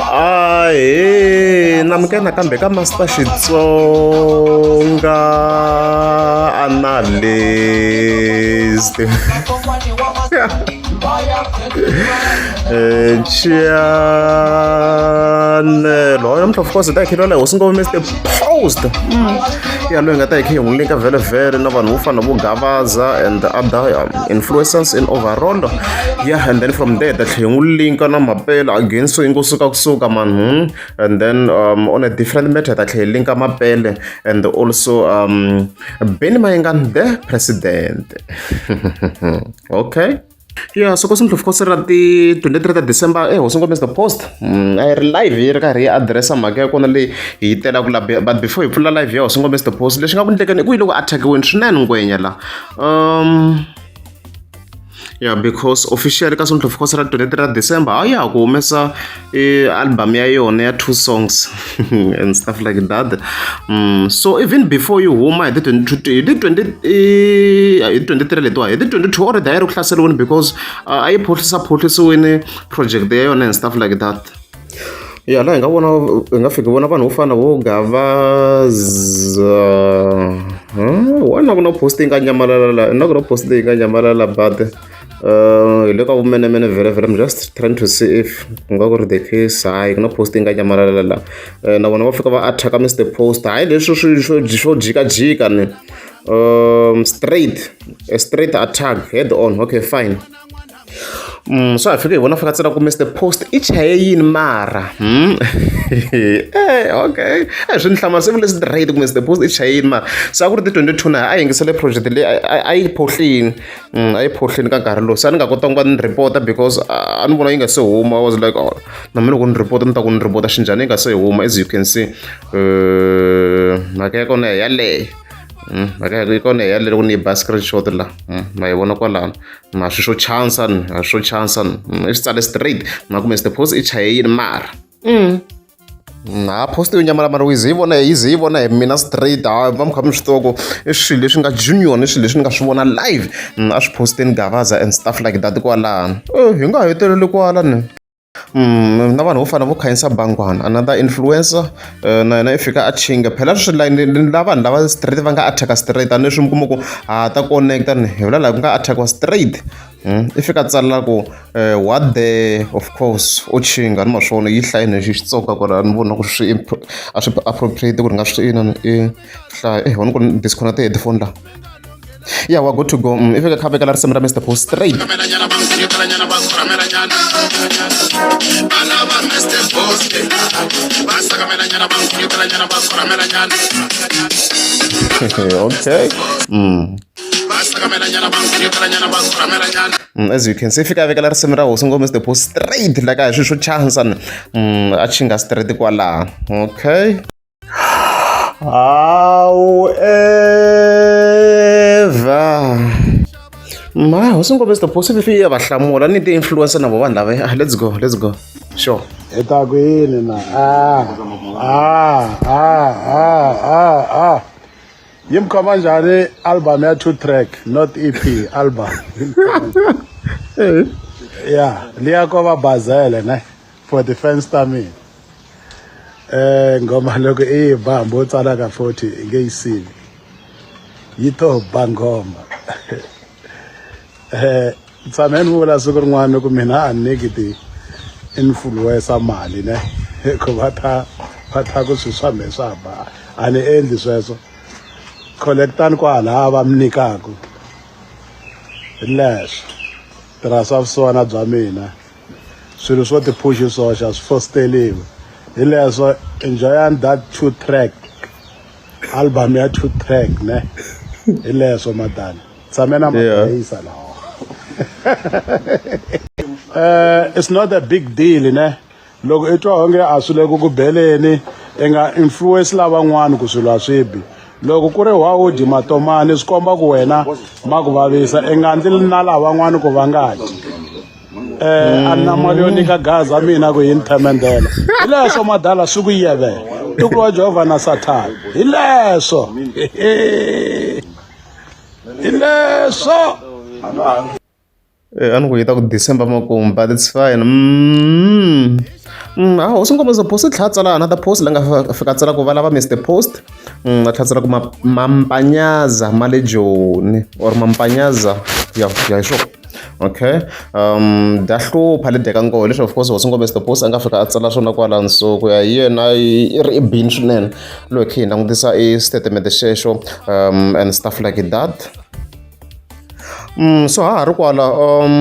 ahe namke nakambe ka master xitsonga analyst chanel hoyo mhla of course ta hi khe lwaleho swi ngove meste post mm. ya loyi nga ta hi khe hi n'wi linka vhele vhele na vanhu vo fana vo gavaza and other um, influencers in overall yeah and then from there that u linka na mapela again so yi ngo suka kusuka man hmm? and then um, on a different matter that tlhe linka mapele and also um, beni mayengan the president okay ya soko swi ndlopfu kosi ra ti 23 ta december e hosi ngombe the post mm, a yi ri live yi ri karhi yi adiresa mhaka ya kona leyi hi yi telaku la but before hi pfula live ya hosi ngombe the post lexi nga ku ndlekeni i ku yi loko attackiweni swinene ngwenya la um ya yeah, because officially ka sontlhof course ra 23 ra december hayi ya ha ku humesa i-album ya yona ya two songs and stuff like that mm, so even before yi huma hi ti-23 letiwa hi ti-22 or daya ri ku hlaseriwini because a yi phohlisa phohlisiwini project ya yona and stuff like that ya laha hi nga vona hi nga fiki hi vona vanhu vo fana na vo Gavaza why na ku na post yi nga nyamalala la na ku na post leyi nga nyamalala but hi le ka vumenemene vhele vhele I'm just trying to see if ku nga ku ri the case hayi ku na post yi nga nyamalala la na vona va fika va attack Mister Post hayi leswi swi swo swo jikajika ni straight a straight attack head on okay fine. swa ha fika hi vona fika tsena ku Mister Post i chaye yini mara hmm? eh, okay eh, swi ni hlamala se leswi tirhayiti ku Mister Post i chaye yini mara se a ku ri ti twenty two na a yingisele project leyi a yi phohlini hmm, a yi phohlini ka nkarhi lowu se a ni nga kotanga ku va ni report-a because a ni vona yi nga se huma i was like oh na mina loko ni report ni ta ku ni report-a xinjhani yi nga se huma as you can see eh, mhaka ya kona yaleyo hmm, mhaka ya kona yaleyo loko ni yi ba screenshot la ma yi vona kwalano ma swi swo chansa ni a swo chansa ni mm, i swi tsale straight ma kume site post i chaye yini mara mm. na post yo nyamala mara wize yi vona yize yi vona hi mina straight ha va mi kha mi swi tiva ku i swilo leswi nga junior ni swilo leswi ni nga swi vona live mm, a swi posteni gavaza and stuff like that kwalano oh, hi nga heteleli kwala ni na vanhu vo fana vo khanyisa bangwana another influencer eh, na yena i fika a chinga phela swi layini la vanhu lava straight va nga attacka straight a ni leswi mi kuma ku ha ta connecta ni hi vula laha ku nga attackiwa straight hmm, i fika tsalela ku eh, what the of course u chinga ni maswona yi hlayi ni xitsonga ku ri ni vona ku swi a swi appropriate ku ri nga swi inani i hlaya ehona ku disconnect headphone la ya wa good to go mm, i fika kha vekela risimu ra mr bo straight okay mm. Mm, as you can see fika vekela risimu ra hosi ngo mr bo straight like a hi swi swo chansan mm, a chinga straight kwalaha okay However, my Hosi Nkobe is the possibility ya va hlamula ni ti-influencer na vo vanhu lava ah, let's go let's go sure hi ta ku yini na ah, ah, ah, ah, ah, ah. yi mi khoma njhani album ya two track not ep album ya liya ko va bazele ne for the fans ta mina eh ngoma loko i yi ba hambi u tsala ka 40 i nge yi sivi yi to ba ngoma eh tshame ni vula siku rin'wana ku mina a niki ti influencer mali ne ku va ta va ta ku swi swa me swa ba a ni endli sweswo collectani kwala va mi nyikaku leswo tirhisa vusiwana bya mina swilo swo ti push swoxe a swi fosteriwi hi leswo enjoyani that two track album ya two track ne hi leswo madani tshame na mabayisa lawa uh, it's not a big deal ne loko i twa onge a swi le ku ku beleni i nga influence lavan'wana ku swilo a swi bi loko ku ri wa u dyi matomani swi komba ku wena ma ku vavisa i nga ndzi na lavan'wana ku va nga dyi eh a na mali yo nyika gaza mina ku yini themendela hi leswo madala swi ku yevela ntukulu wa jehovha na sathana hi leswo hi leswo eh, a ni ku yi ta ku december makumu but it's fine mm. Mm, a hosi nkombo zo post tlha tsala another post la nga fika tsala ku valava mr post mm, a tlha tsala ku mampanyaza ma le joni or mampanyaza ya ya hi swona okay um bya hlupha le deka nkoho leswi of course hosi ngombe stopos a nga fika a tsala swona kwala nsuku ya yena i ri i bini swinene loyi khe hi langutisa i statement xexo um and stuff like that Mm, so ha ha ri kwala um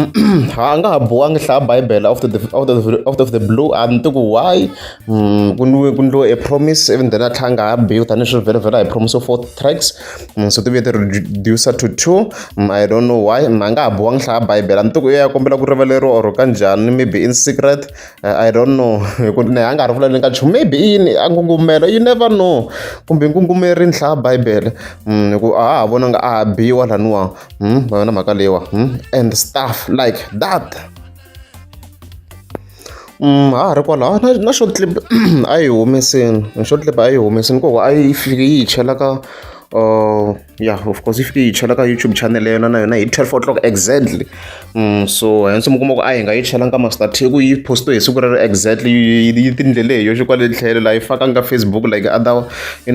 ha a nga ha bowangi hlaya bibele out of the, out of the, out of the blue a ni ti ku why mm, ku ni ku ni lo a promise even then a tlhanga ha biwi tanihi swi vhela vhela hi promise of four tracks Mm, so tivuye ti reducer to two mm, i don't know why mm, a nga ha bowa ngi hlaya bibele a ni tiku ya kombela ku rivaleriwa or ka njhani maybe in secret uh, i don't know hi ku ne a nga ha ri vulaleni ka nchumu maybe yini a ngungumela you never know kumbe ngungumeri ni hlaya bibele hi ku a ha vona nga a ha biwa laniwa va yona mhaka leyiwa and stuff like that Ha ha ri kwalaho a na na short clip a yi humesile na short clip a yi humesile ku hikuva a yi fike yi hi chela ka ya of course yi fike yi hi chela ka YouTube channel ya yona na yona hi twelve o'clock exactly so hence mi kuma ku a hi nga yi chela ka masiku thirty ku yi post-we hi siku rero exactly yi tindlele hi yoxe kwale tlhelo laha yi fakaka ka Facebook like other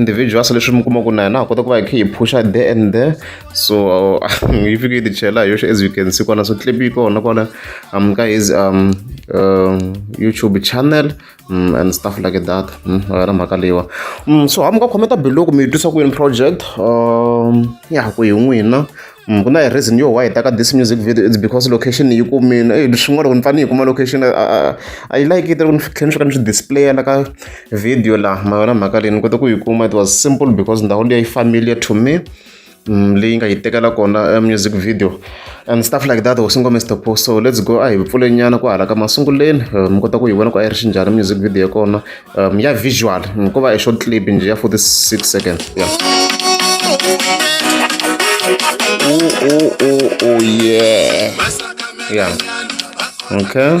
individuals leswi mi kuma ku na hina ha kota ku va hi kha hi phusha there and there. so yi fike yi tichela hi yoxe as you can see kwana swi clip yi kona kwana um ka his um uh, youtube channel um, and stuff like that um yona mhaka leyiwa um so hamu ka khometa biloko mi yi twisa ku yini project um ya ku hi n'wina Mm, ku na hi reason yo why hi taka this music video it's because location yi kumile ey swin'wana loko ni fanele yi kuma location i like it loko ni tlhela ni swi ka ni swi displaya la ka video la ma yona mhaka leyi ni kota ku yi kuma it was simple because ndhawu leyi yi familiar to me leyi nga yi tekela kona eh, music video and stuff like that hosi ngome stop so let's go a hi pfule nyana ku hala ka masunguleni eh, mi kota ku yi vona ku a yi ri xinjhani music video ya kona um, ya visual ko va e short clip nje ya 46 seconds yeah. oh, oh, oh, oh, yeah. yeah. okay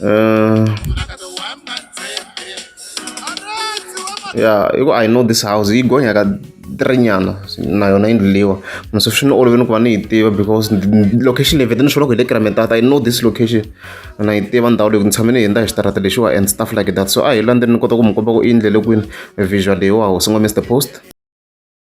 Uh, ya i ku i know this house yi gonya ka tirinyana na yona yindlu leyiwa mara swi ni olovini ku va ni yi tiva because location leyi vete ni swoloko hi le kirametata i know this location na yi tiva ndhawu leyi ku ni tshame ni hundza hi xitarata lexiwa and stuff like that so a hi landzeni ni kota ku mi komba ku i yindlele kwini visual leyiwa hosi ngo mr post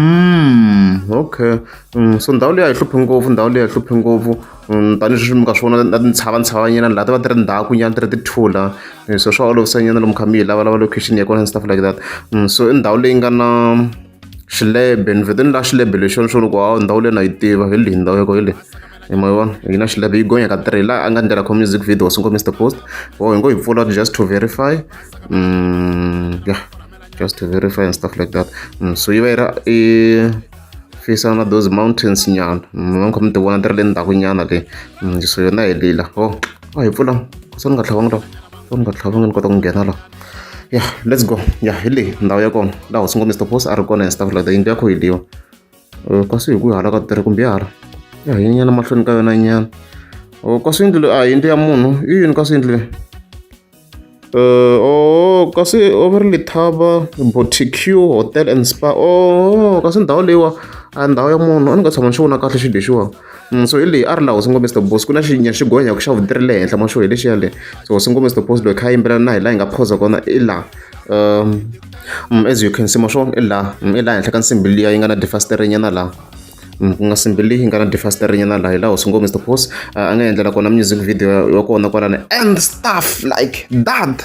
Mm, okay mm, so ndhawu leyi a yi hluphi ngopfu ndhawu leyi a yi hluphi ngopfu mm, tanihileswi mi ka swi vona na tintshava ntshava laha ti va ti ri ndhaku nyana ti ri tithula eh, so swa olovisa nyana lomu kha mi yi lavalava location ya kona and stuff like that mm, so i ndhawu leyi nga na xilebe ni vhete ni la xilebe lexi ni swo loko hawu ndhawu leyi na yi tiva hi leyi ndhawu ya ko hi leyi hi ma vona yi na xilebe yi gonya ka three la a nga ndlela kho music video singo mr post wo hi ngo yi pfula just to verify mm, yeah just to verify and stuff like that mm, so yi va yi ra i fisa na those mountains nyana mm, va ni khoma ti vona ti ri le ndzhaku nyana le mm, so yona hi lila o oh, a hi pfula se ni nga tlhavangi laha se ni nga tlhavangi ni kota ku nghena laha ya let's go ya hi leyi ndhawu ya kona laha hosi ngo mr post a ri kona and stuff like that yindlu ya kho hi liwa eh, kasi hi ku hala ka tirhi kumbe hala ya hi nyana mahlweni ka yona nyana oh, kasi yindlu a yindlu ya munhu i yini kasi yindlu leyi Uh, oh kasi over ri lithaba boticue hotel and spa oh kasi ndhawu leyiwa a ndhawu ya munhu a ni nga tshama ni xi vona kahle xilo lexiwa mm, so hi leyi a ri laha hosi ngombe stop boss ku na xinya xi gonya ku xa vuti ri le henhla maxo hi lexiya le so hosi ngombe stop boss loyi kha yimbelana na hi laha hi nga phosa kona i laha um mm, as you can see maxo i laha mm, i laha henhla ka nsimbi liya yi nga na defasterinyana laha ku nga simbi leyi nga na difaster rinye na laha hi laha hosi ngo mr boss a nga endlela kona music video ya kona kwalani and stuff like that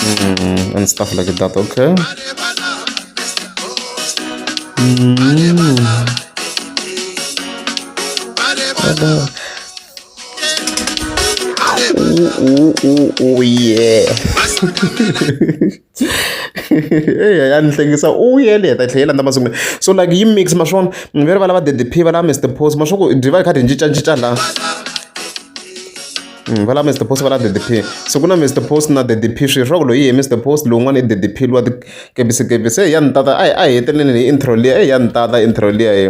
Mm, and stuff like that, okay? Mm. Oh, oh, oh, yeah. eya ya ni hlekisa u yele heta tlhela yi landza masungulo so like yi mix ma swona ni ve rivala va ddp va lava mr post ma swa ku dyi va yi kha dyi cincacinca laha Mm, vala mr post vala ddp so ku na mr post na ddp swi swa ku loyi hi mr post lowun'wana i ddp luwa tikebisi kebisi eyi ya ni tata a hi a hi heteleleni hi intro liya eyi ya ni tata intro liya hi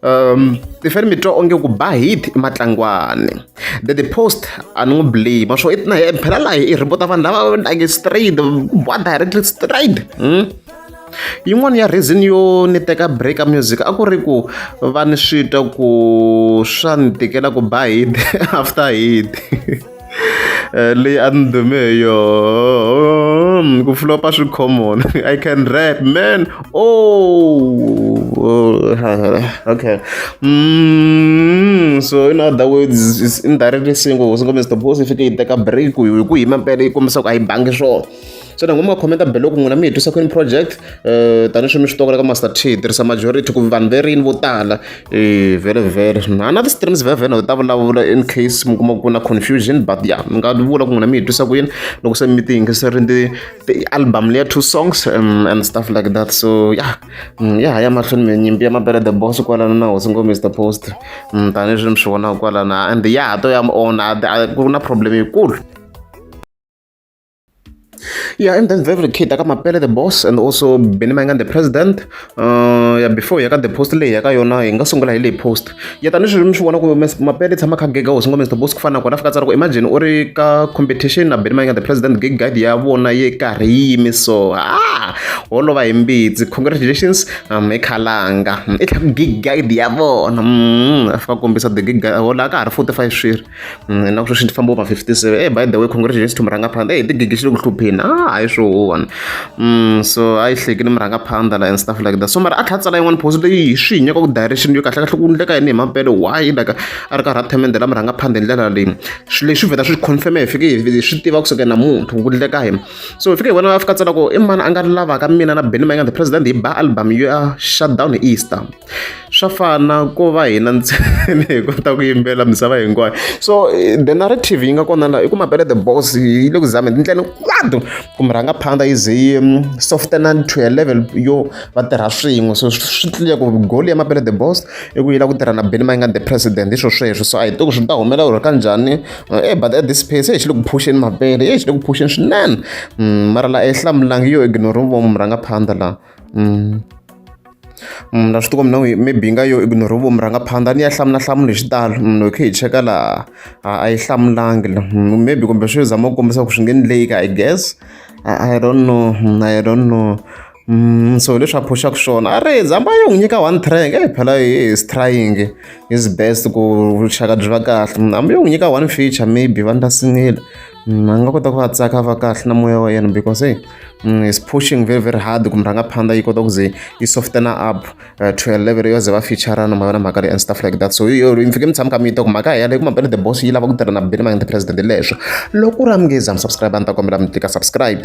um tiferi mi twa onge ku ba hit i matlangwani the the post a ni n'wi blame swo i na phela laha i rhipota vanhu lava like straight ba directly straight hmm? yin'wana ya reason yo ni teka break a music a ku ri ku va ni swi twa ku swa ni tikela ku ba hit after hit leyi a ni dume hi yoho ku flopa swi common i can rap man oh, okay mm, so in other words indirectly singo singo mr boss i fike yi teka break hi ku hi mampela yi kombisa ku a yi bangi swona xana n'wini ma khomenta belo ku n'wina mi hi twisa kwini project um tanihi swi mi swi tokola ka master t hi tirhisa majority ku vanhu ve rini vo tala e vhele vhele na na ti-streams vhevhele ta vulavula in case mi kuma ku na confusion but ya mi nga vula ku n'wina mi hi twisa ku yini loko se mi ti yingiserini ti ti-album leya two songs um, and stuff like that so ya mm, ya ha ya mahlweni mi nyimpi ya mabele the boss kwalana na hosi ngo mr post mm, tanihi swi mi swi vonaka kwalana and ya ha to ya mi ona ku na problem yikulu Yeah, and then very kid aka mapele the boss and also Benny Mangan the president. Uh, yeah, before yaka the post leyi yaka yona hi nga sungula hi leyi post. Ya tani swi mi swi vona ku mapele tshama kha gig hosi ngo Mr Boss ku fana kona fika tsara ku imagine u ri ka competition na Benny Mangan the president gig guide ya vona ye karhi yi yimi so. Ah, holova hi mbitsi. Congratulations um ekhalanga. I tlhaku gig guide ya vona. Mm, afika kombisa the gig guide hola ka ha ri 45 swiri. Mm, na sweswi ndzi famba over 57 hey by the way congratulations to murhangaphandha hey tigigi xi le ku hlupheni ah hayi swo wona mm, so a yi hlekile murhangaphandha la and stuff like that so mara a tlha tsala yin'wana post leyi hi swi nyaka ku direction yo kahle kahle ku ndleka yini hi mapele why like a ri karhi a themendela murhangaphandha hi ndlela leyi swi leswi vheta swi confirm hi fike hi swi tiva kusuka na munhu ku ndleka hi so hi fike hi vona va fika tsala ku i mani a nga lavaka mina na benny mayinganthe president hi ba album yo ya shut down hi easter swa fana ko va hina ntsena hi kota ku yimbelela misava hinkwayo so the narrative yi nga kona laha i ku mabele the boss yi le ku zameni tindlela hinkwato ku mi rhanga phanda yi ze yi mm, softena to a level yo va tirha swin'we so swi tliya ku goli ya mabele the boss i ku yi lava ku tirha na beni mayingani the president hi swo sweswo so a hi tiku swi ta humelela ku ri ka njhani e but at this pace e xi le ku phuxeni mabele e xi le ku phuxeni swinene mm, mara laha ehlamulanga yo ignore vo mi rhanga phanda laha Mm. Mm, na swi tikombi na maybe yi nga yo ignore vomu rhanga phanda ni ya hlamula hlamula hi xitalo munhu mm, hi khe hi cheka laha a yi hlamulangi la mm, maybe kumbe swi zama ku kombisa ku swi nge ni leyika i guess i don't know i don't know Mm, so leswi a phuxaka swona a ri zamba yi n'wi nyika one track e phela is trying is best ku vuxaka byi va kahle hambi yi n'wi nyika one feature maybe va ndla singile a nga kota ku va tsaka va kahle na moya wa yena because e mm, is pushing very very hard ku murhangaphandla yi kota ku ze yi softena up uh, to a level yo ze va featurana ma vona mhaka leyi and stuff like that so yo mi fike mi tshama ka mi yi ta ku mhaka yaleyo kuma bele the boss yi lava ku tirha na bele mangende president leswo loko u ri amngezi am subscribe a ni ta kombela mi tlika subscribe